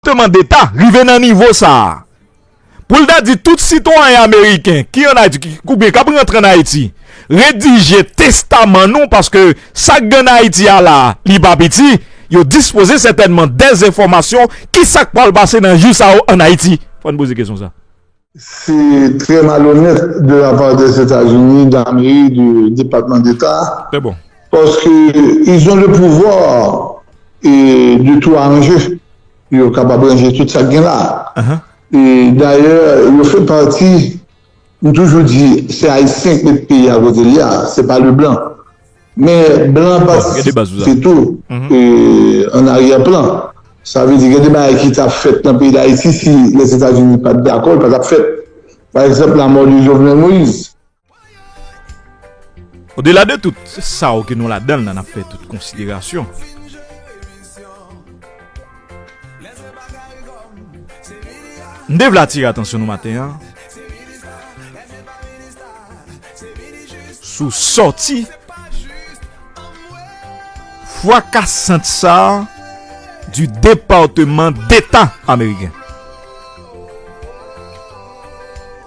Departeman Deta rive nan nivo sa a pou l ta di tout sitwayen ameriken ki ann Ayiti oubyen k ap rantre ann Ayiti, redije testaman nou paske sa k gen ann Ayiti a la a, li pa piti, yo dispoze sètènman dèzenfòmasyon ki sa k pral pase nan jou sa yo ann Ayiti. Fò n poze kesyon sa a. Se trè malonèt de la part des États-Unis d'Ameri de Depatman Deta paske ils ont le pouvoir de tout arranger. Yo kapab ranje tout sa k gen la. E dayè yo fè pati, m toujou di se Ayisyen k met peyi a kote li a, se pa Leblan. Men blan an patisipe tou an aryè plan. Sa vle di gen de bagay ki ta fèt nan peyi Dayiti si Lèzetazini pa t dakò, li pa t ap fèt. Pa egzanp lamò de Jovenel Moïse. Odela de tout sa w ke nou ladan l la n ap fè tout konsiderasyon. M te vle atire atansyon nou maten an. sou sòti fwakasant sa a di Depateman Deta ameriken.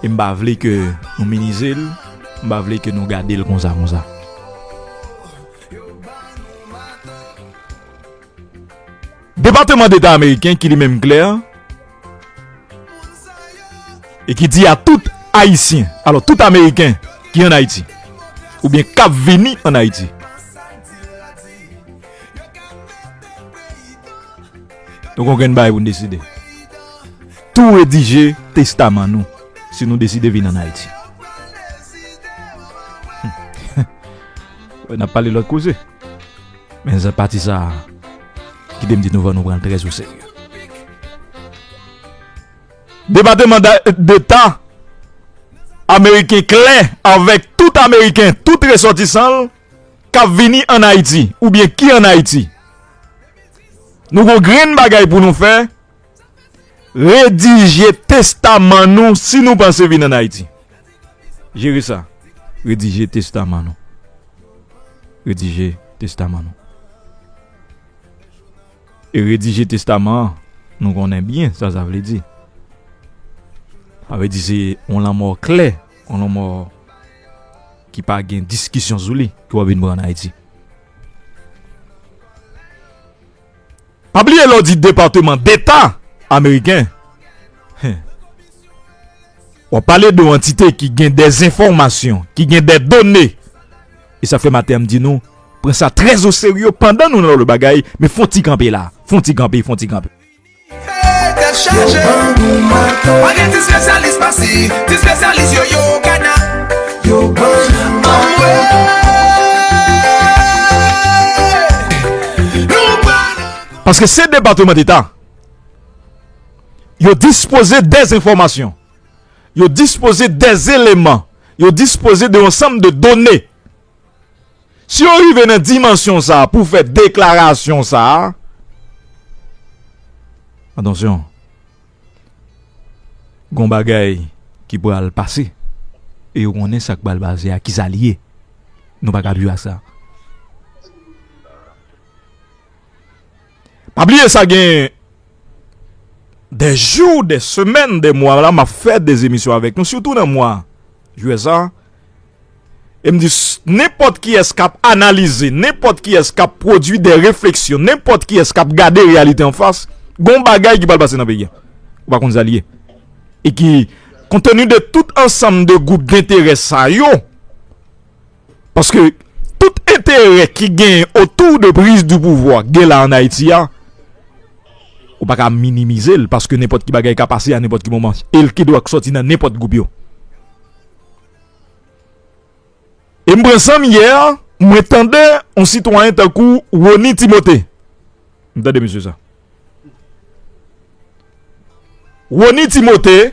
E m pa vle ke nou minize l, m pa vle ke nou gade l konsa konsa. Depateman Deta Ameriken ki li menm klè e ki di a tout Ayisyen, alò tout Ameriken ki an Ayiti oubyen k ap vini an Ayiti, nou gen yon grenn bagay pou nou deside, tou redije testaman nou si nou deside vini an Ayiti. N ap pale lòt koze. Men zè pati sa a, kite m di nou fò nou pran l trèz o serye. Depateman Deta ameriken klè avèk tout ameriken, tout resòtisan l k ap vini ann Ayiti oubyen ki ann Ayiti. Nou gon grenn bagay pou nou fè. Redije testaman nou si nou panse vin an Ayiti. Jere sa. Redije testaman nou. Redije testaman nou. E redije testaman an, nou konnen byen sa sa vle di. A vle di se on lanmò klè, on lanmò ki pa gen diskisyon sou li ki wap vin pran an Ayiti. Pa bliye lè w di Departement d'Etat Ameriken, w ap pale de yon antite ki gen de enfòmasyon, ki gen de done. E sa fè maten an m di nou, pran sa trè o serye pandan nou nan lòt bagay, men fon ti kanpe la, fon ti kanpe, fon ti kanpe. Paske se departement d'Etat yo dispose des enfomasyon, yo dispose des eleman, yo dispose de yon sanm de done. Si yo rive nan dimansyon sa a pou fè deklarasyon sa a, atansyon, gon bagay ki pral pase. E yo konnen sa k pral pase a, kisa li ye. Nou pa ka ap jwe ak sa. Pa bliye sa gen dè jou, dè semèn, dè mwa la map fè dè emisyon avèk nou sitou nan mwa jiyè sa. E m di nenpòt kiyès kap analize, nenpòt kiyès kap pwodui dè refleksyon, nenpòt kiyès kap gade reyalite an fas, gon bagay ki pral pase nan peyi a. Ou pa konn sa li ye. E ki konteni de tout ansanm de gwoup dentèrè sa yo. Paske tout enterè ki gen otou de priz di pouvwa gen la an Ayiti a, ou pa ka minimize l paske nenpòt ki bagay ka pase a nenpòt ki moman e l kidonk soti nan nenpòt gwoup yo. E m pran san m yè mwen tande yon sitwayen tankou Rony Timothé. M tande mesye sa. Rony Timothé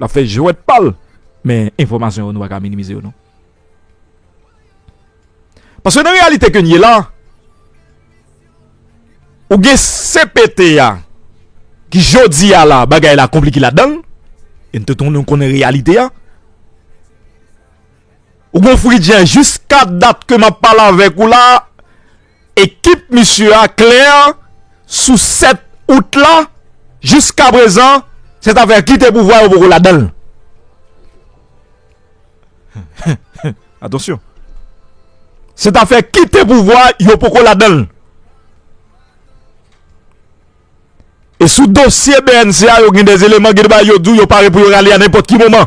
Lap fè jwèt pal men enfòmasyon yo nou pa ka minimize yo non. Paske nan reyalite ke n ye la, ou gen CPT a ki jodi a la bagay la konplike la dan l, e n tout moun nou konnen reyalite a. Ou gen yon fridjè jiska dat ke map pale avèk ou la. Ekip misye a klè sou 7 out la, jiskaprezan se zafè kite pouvwa yo poko ladan l. Atansyon! Se zafè kite pouvwa yo poko ladan l. E sou dosye bnc a yo gen de eleman ki bay yo di yo pare pou yo rale a nenpòt ki moman.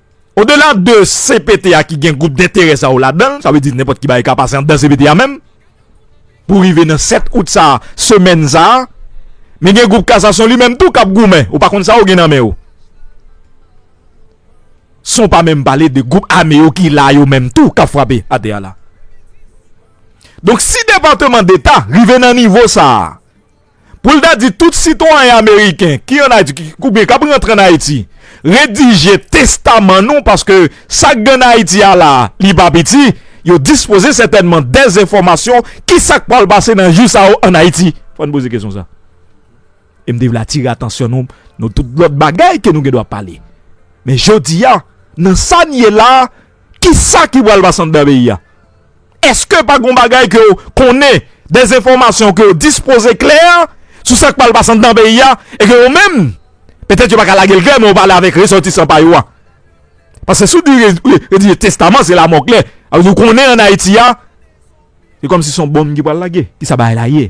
Odela de CPT a ki gen gwoup denterè sa yo ladan l, sa vle di nenpòt ki bagay ka pase anndan CPT a menm, pou rive nan 7 out sa a, semèn sa a, men gen gwoup kasasyon li menm tou k ap goumen, ou pa konn sa yo gen nan men yo. San w pa menm pale de gwoup ame yo ki la yo menm tou k ap frape atè a la. Donk si Depateman Deta rive nan nivo sa a, pou l ta di tout sitwayen ameriken ki ann Ayiti oubyen k ap rantre ann Ayiti redije testaman nou paske sa k gen ann Ayiti a la a li pa piti, yo dispoze sètènman dezenfòmasyon ki sa k pral pase nan jou sa yo ann Ayiti. Fò n poze kesyon sa a. E m te vle atire atansyon nou nan tout lòt bagay ke nou gen dwa pale. Men jodi a, nan sa n ye la a, ki sa ki pral pase anndan peyi a? Eske pa gon bagay ke w konnen, des enfòmasyon ke w dispoze klè sou sa k pral pase anndan peyi a e ke yo menm, petèt yo pa ka lage l klè men yo pale avèk resòtisan pa yo a? Paske si w di yo di testaman se lamò klè. Sa vle di w konnen an Ayiti a, se kòmsi se yon bonm ki pral lage. Kisa bagay la ye?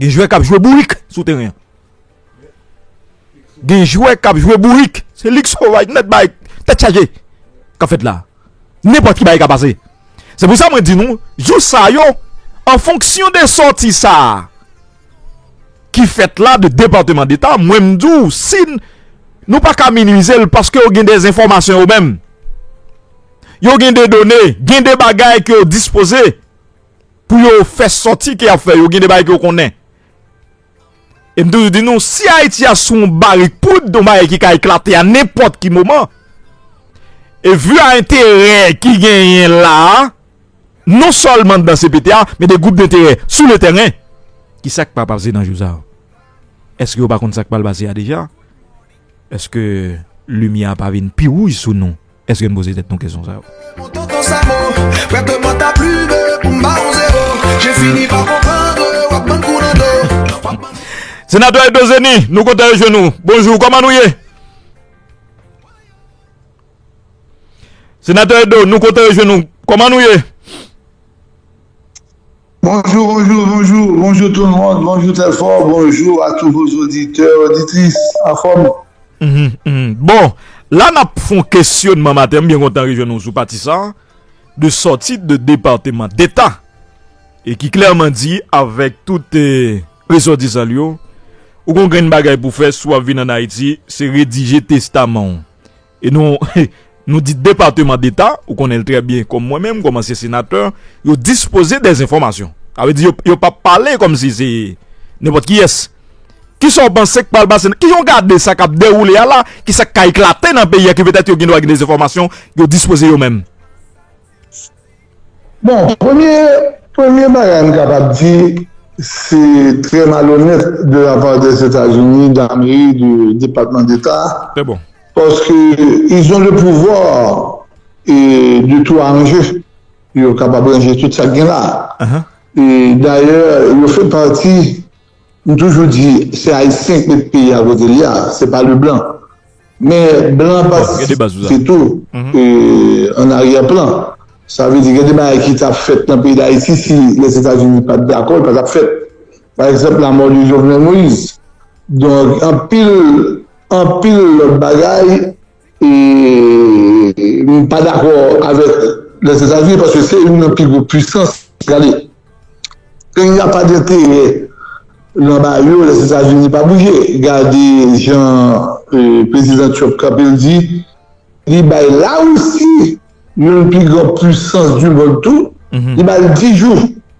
Gen jwè kap jwe bourik sou teren an. Gen jwè kap jwe bourik. Se lig sovaj nèt bay tèt chaje kap fèt la. Nenpòt ki bagay ka pase. Se pou sa mwen di nou, jou sa yo, an fonksyon de sòti sa a ki fèt la de Depateman Deta, mwen m di w si nou pa ka minimize l paske yo gen de enfòmasyon yo menm. Yo gen de done, gen de bagay ke yo dispoze. pou yo fè sòti ke yap fè yo gen de bagay ke yo konnen e m toujou di nou si ayiti a sou yon barik poud yon bagay ki ka eklate a nenpòt ki moman e vu a enterè ki genyen la non sèlman nan cpt a men de gwoup denterè sou le tèren ki sak pa pase nan jou sa eske yo pa konn sak pral pase a deja Eske limyè a pa vin pi wouj sou nou? Eske n poze tèt nou kesyon sa yo? Senatè Edo Zeni, nou kontan rejwenn ou. Bonjou, kòman nou ye? Senatè Edo, nou kontan rejwenn ou. Kòman nou ye? Bonjou bonjou bonjou bonjou tout mond bonjou telfò bonjou a tou vos oditè oditris anfòm. Bon la nap fon kesyonman maten m byen kontan rejwenn nou sou pati sa de sòti de depateman deta e ki klèman di avèk tout resòtisan l yo ou gon grenn bagay pou fè si w ap vin an ayiti se redije testaman w. E nou Nou di depateman deta, ou konnen l trè byen kòm mwen menm, kòm ansyen senatè, yo dispoze dè enfòmasyon. Sa vle di yo pa p pale kòm si se nenpòt kiyès. Ki sa w panse k pral pase nan, ki jan w gade sa k ap dewoule a la, ki sa k ka eklate nan peyi a ki petèt yo gen dwa gen dè enfòmasyon yo dispoze yo menm? Bon, premye, premye bagay m kapab di, se trè malonèt de la part des États-Unis d'Ameri, de Depatman Deta, paske ils ont le pouvoir de tout arranger, yo kapab ranje tout sa k gen la. E dayè, yo fè pati M toujou di se ayisyen ki met peyi a kote li a, se pa le blan. Men blan patisipe tou an aryè plan. Sa vle di gen de bagay ki ta fèt nan peyi Dayiti si Lèzetazini pat dakò, li pa tap fèt. Pa egzanp lamò de Jovenel Moïse. Donk anpil, anpil lòt bagay M pa dakò avèk Lèzetazini paske se youn nan pi gwo pwisans. Gade, peyi a pa gen enterè nan ba yo, Lèzetazini pa bouje. Gade jan Prezidan Trump kanpe l di li bay Larisi, youn pi gran pwisans dimond tou, li ba l 10 jou.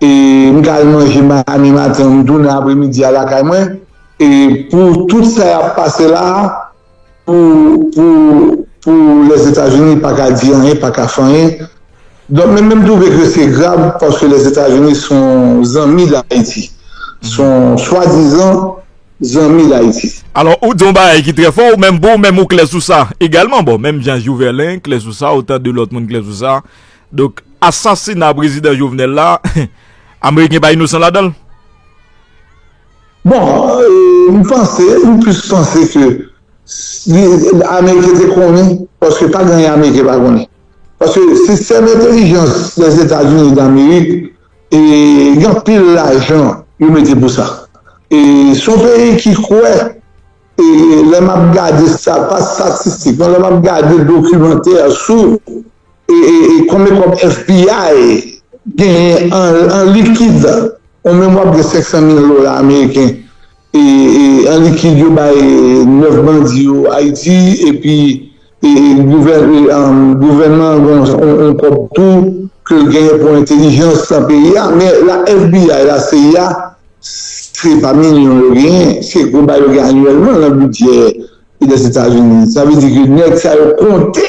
E m ka al manje mami maten an m tounen apremidi a lakay mwen e pou tout sa yap pase la a pou pou pou Lèzetazini pa ka di anyen, pa ka fè anyen. Donk men men m twouve ke se grav paske Lèzetazini se yon zanmi Dayiti. Se yon swadizan zanmi Dayiti. Alò ou di yon bagay ki trè fò ou menm pou ou menm ou klè sou sa egalman bon menm jan Jouvelen klè sou sa otan de lòt moun klè sou sa Donk asasina prezidan Jovenel la ameriken pa inosan ladanl? Bon, m panse, m plis panse ke ameriken te konnen, paske pa gen anyen ameriken pa konnen. Paske sistèm entelijans Lèzetazini damerik gen anpil lajan yo mete pou sa. E se yon peyi ki kwè, lè m ap gade sa, pa statistik non, lè m ap gade dokimantè sou. E konbyen kòb FBI genyen an likid? Ou menm wap gen 500 mil dola ameriken an likid yo bay 9 bandi yo Ayiti epi gouvènman an gen yon kòb tou ke l genyen pou entelijans nan peyi a. Men la FBI, la cia se pa milyon yo genyen, se gwo bagay yo genyen anyèlman nan bidjè Lèzetazini. Sa vle di ke nèg sa yo konte.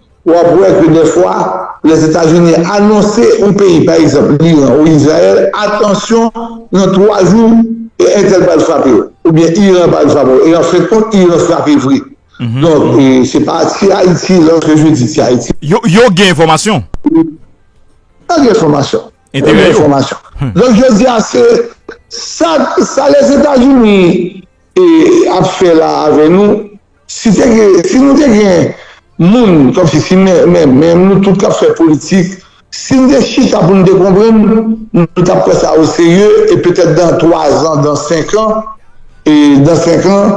Ou ap wè ke dèfwa, Lèzetazini anonse yon peyi, pa egzanp, Liran ou Izrayèl, atansyon, nan twa jou, e entèl pral frape yo. Oubyen Iran pral frape yo. E an fen kont, Iran frape vre. Donk, se pa ti Ayiti, lòske je di ti Ayiti. Yo gen enfòmasyon? Yo gen enfòmasyon. Enterè yo? Donk, jodi a, se sa Lèzetazini ap fè la avè nou. Si te gen, si nou te gen moun, kòmsi si menm nou tout kap fè politik, si n te chita pou n te konprann, nou tap pran sa o serye e petèt dan 3 zan, dan 5 an, dan 5 an,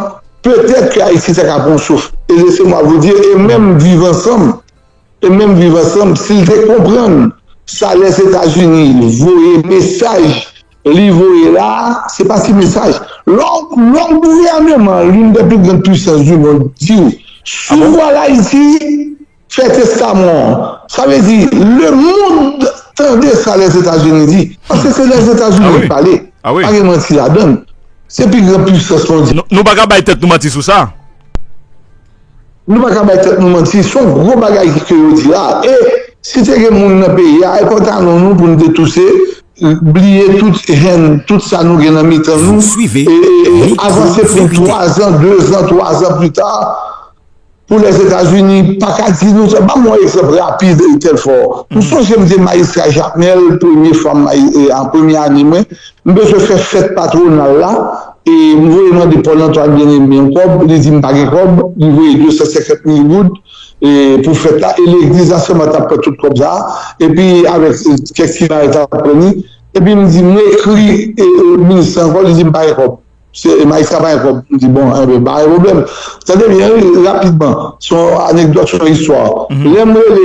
petèt ke Ayiti ta ka pran yon souf. E laissez-moi vous dire, e menm viv ansanm. E menm viv ansanm sil te konprann sa les etazini voye mesaj li voye la se pa ti mesaj lè yon gouvèneman youn dè pi grand pwisans du mond diw sou vwa layiti fè testaman w sa vle di le mond tande sa les etazini di paske se les etazini ki pale pa gen manti ladann se pi grand pwisans mondyal. Nou paka bay tèt nou manti sou sa. Nou pa ka bay tèt nou manti, se yon gwo bagay ke yo di la e si te gen moun nan peyi a e pantalon nou pou nou te touse, bliye tout haine, tout sa nou gen nan mitan nou e avanse pou 3 zan, 2 zan, 3 zan pli ta pou Lèzetazini pa ka di nou sa. Banm yon egzanp rapid Telfort, m sonje m te majistra Jakmèl premye fwa m, premye ane mwen M bezwen fè fèt patwonal la e m voye mande Paul Antoine Bien-Aimé yon kòb, li di m pa gen kòb, li voye 250 mil goud pou fèt la e legliz la sèlman t ap pran tout kòb sa a epi avèk kèk ti bagay sa a pran li epi m di m ekri minis lan ankò li di m pa gen kòb se majistra pa gen kòb m di bon enben pa gen pwoblèm tande byen wi rapidman se yon anekdòt se yon istwa lè m rele